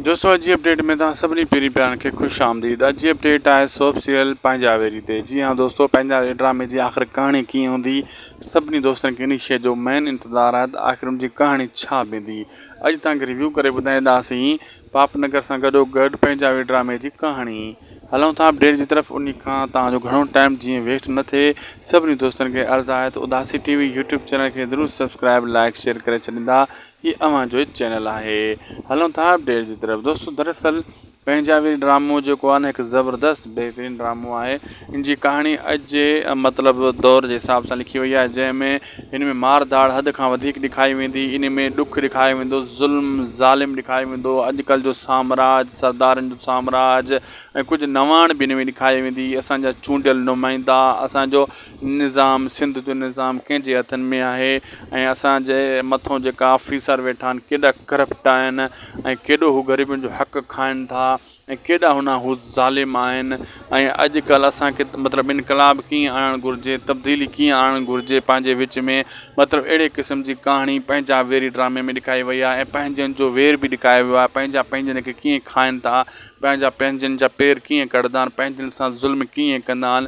دوستو اڄ جي اپڊيٽ ۾ توهان سڀني پيري پيارن کي خوش آمديد اڄ جي اپڊيٽ آهي سوپ سيريل پنهنجا ويري تي جي ها دوستو پنهنجا ويري ڊرامي جي آخر ڪهاڻي ڪيئن هوندي سڀني دوستن کي انهي شيء جو مين انتظار آهي ته آخر ان جي ڪهاڻي ڇا بيندي اڄ توهان کي ريويو ڪري ٻڌائينداسين پاپ نگر سان گڏو گڏ پنهنجا ويري ڊرامي جي ڪهاڻي هلون ٿا اپڊيٽ جي طرف انهي کان توهان جو گهڻو ٽائيم جيئن ويسٽ نه ٿئي سڀني دوستن کي عرض آهي ته Udasi T V YouTube channel کي ضرور سبسڪرائيب لائڪ شيئر ڪري ڇڏيندا هي اوهان جو ئي چينل آهي هلون ٿا اپڊيٽ جي طرف دوستو دراصل پنهنجاوي ڊرامو جيڪو آهي نه هڪ زبردست بهترين ڊرامو آهي ان جي ڪهاڻي اڄ جي مطلب دور جي حساب سان لکي وئي آهي جنهن ۾ هن ۾ مار ڌاڙ حد کان وڌيڪ ڏيکاري ويندي ان ۾ ڏک ڏيکاريو ويندو ظلم ظالم ڏيکاريو ويندو اڄ ڪلهه جو سامراج سردارن جو سامراج ۽ ڪجهه نواڻ به ان ۾ ڏيکاري ويندي اسان جا چونڊيل نمائندا اسان جو نظام سنڌ جو نظام ڪنهن جي هٿن ۾ آهي ۽ اسان جي مٿو جيڪا آفيسر ويٺا آهن ڪيڏا ڪرپٽ آهن ۽ ڪيڏو هو غريبن جو حق کائن ٿا ۽ ڪيڏا هنا هو ظالم آهن ۽ اڄ ڪلهه اسان کي مطلب انقلاب ڪيئن آڻڻ گهرجي تبديلي ڪيئن آڻڻ گهرجي پنهنجي وچ ۾ مطلب اهڙي قسم جي ڪهاڻي پنهنجا ويري ڊرامي ۾ ڏيکاري وئي آهي ۽ پنهنجن جو وير به ڏيکاريو ويو آهي پنهنجا پنهنجن کي ڪيئن کائن ٿا پنهنجا پنهنجن جا پير ڪيئن ڪڙهندا آهن پنهنجن سان ظلم ڪيئن ڪندا آهن